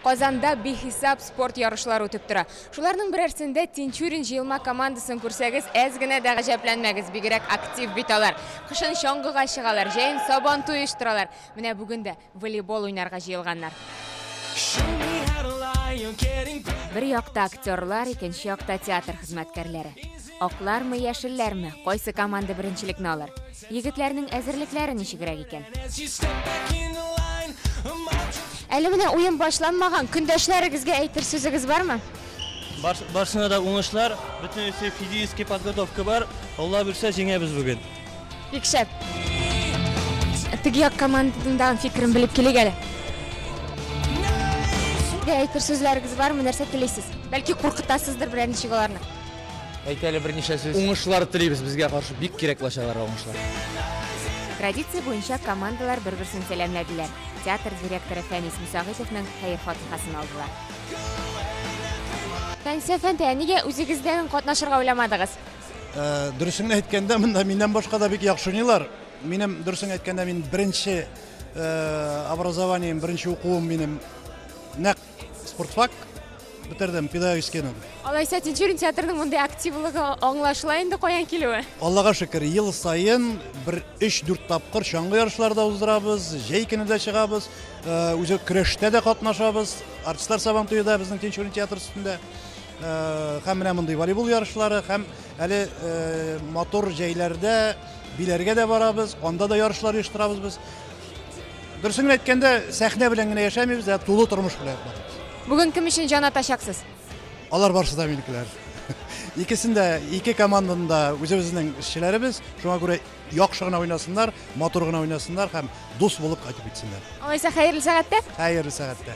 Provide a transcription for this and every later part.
Казанда бихисап спорт ярышлары үтеп тора. Шуларның берәрсендә Тинчурин җыелма командасын күрсәгез, әз генә дә гаҗәпләнмәгез, бигрәк актив бит алар. Кышын чаңгыга чыгалар, җәен Сабантуй оештыралар. Менә бүген дә волейбол уйнарга җыелганнар. Бер якта актерлар, икенче якта театр хезмәткәрләре. Аклармы, яшелләрме, кайсы команда беренчелекне алыр? Егетләрнең әзерлекләре ничегрәк икән? Әле менә уен башланмаган, көндәшләрегезгә әйтер сүзегез бармы? Бар, барсына да уңышлар, бөтенесе физический подготовка бар, Алла бирсә җиңәбез бүген. Бик шәп. Теге як командадагы фикерен белеп килик әле. Әйтер сүзләрегез бармы, нәрсә телисез? Бәлки куркытасыздыр берәр ничек аларны? Әйт әле берничә сүз. Уңышлар телибез безгә каршы бик кирәк лачаларга уңышлар. Традиция буенча командалар бер-берсен сәламләделәр. Театр директоры Фәнис Мусагыйдовның хәер-фатихасын алдылар. Фәлсәфә дә, нигә үзегездән катнашырга уйламадыгыз? Э, дөресен әйткәндә, монда миннән башка да бик яхшы уйныйлар. Минем дөресен әйткәндә, мин беренче э, образованием, беренче укуым минем нәкъ Спортфак бетердем, педагогическийны. Алайса Тинчурин театрының мондый активлыгы аңлашыла инде каян килүе? Аллага шөкер, ел саен бер 3-4 тапкыр чаңгы ярышлары да уздырабыз, җәй көне дә чыгабыз, э, үзе көрәштә дә катнашабыз, артистлар сабан туе да безнең Тинчурин театр өстендә. Э, һәм менә мондый волейбол ярышлары, һәм әле э, матур җәйләрдә биләргә дә барабыз, анда да ярышлар оештырабыз без. Дөресен әйткәндә, сәхнә белән генә яшәмибез, ә тулы тормыш белән ятмадык. Бүген кем өчен җан атачаксыз? Алар барысы да минекеләр. Икесен дә, ике команданы да үзебезнең эшчеләребез, шуңа күрә яхшы гына уйнасыннар, матур гына уйнасыннар һәм дус булып кайтып китсеннәр. Алайса, хәерле сәгатьтә. Хәерле сәгатьтә.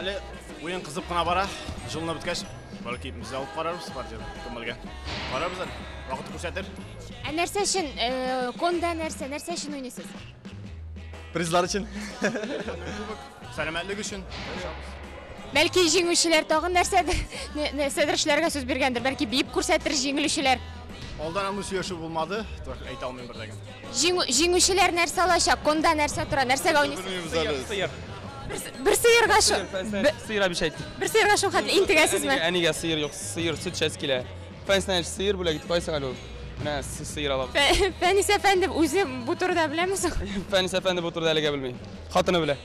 Әле уен кызып кына бара. Җылынып беткәч, бәлки без дә алып карарбыз партияне. Кем белгән? Карарбыз әле. Вакыт күрсәтер. Ә нәрсә өчен э, конда нәрсә, нәрсә өчен уйныйсыз? Призлар өчен. Сәламәтлек өчен. Бәлки җиңүчеләр тагын нәрсәдер, нә- нәрсәдер эшләргә сүз биргәндер. Бәлки биеп күрсәтер җиңелүчеләр. Алдан андый сөйләшү булмады. Так, Әйтә алмыйм бер дә генә. Җиңү, җиңүчеләр нәрсә алачак? Конда нәрсә тора? Нәрсәгә уйныйсыз? Белмибез әле. Сыер. Бер сыерга шул. Бе- Сыер әбиш әйт. Бер сыерга шул хәтле интегәсезме? Әнигә, әнигә сыер юк, сыер сөт шәс килә. Фәнснә сыер бүләк итеп кайсың әле ул? Менә с- сыер алам. Фә- Фәнис әфәнде үзе бу турыда беләме соң? Фәнис әфәнде бу турыда әлегә белми. Хатыны белә.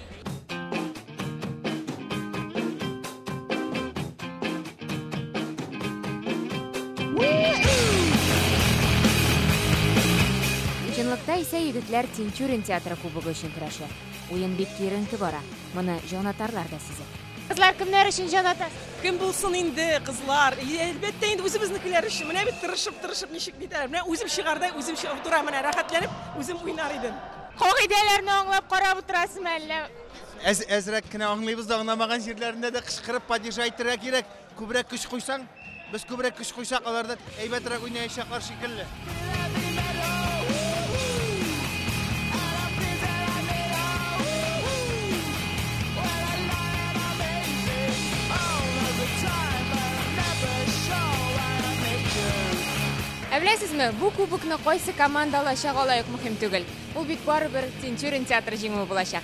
Чынлыкта исә егетләр Тинчурин театры кубогы өчен көрәшә. Уен бик киеренке бара. Моны җанатарлар да сизә. Кызлар кемнәр өчен җан ата? Кем булсын инде, кызлар? Әлбәттә инде үзебезнекеләр өчен. Менә бит тырышып, тырышып ничек битәр. Менә үзем чыгардай, үзем чыгып утырам, менә рәхәтләнеп үзем уйнар идем. Кагыйдәләрне аңлап карап утырасызмы әллә? Әз, әзрәк кенә аңлыйбыз да аңламаган җирләрендә дә кычкырып падежа әйтергә кирәк. Күбрәк көч куйсаң, без күбрәк көч куйсак, алар да әйбәтрәк уйнаячаклар шикелле. Ә беләсезме, бу кубокны кайсы команда алачак алай ук мөһим түгел. Бу бит барыбер Тинчурин театры җиңүе булачак.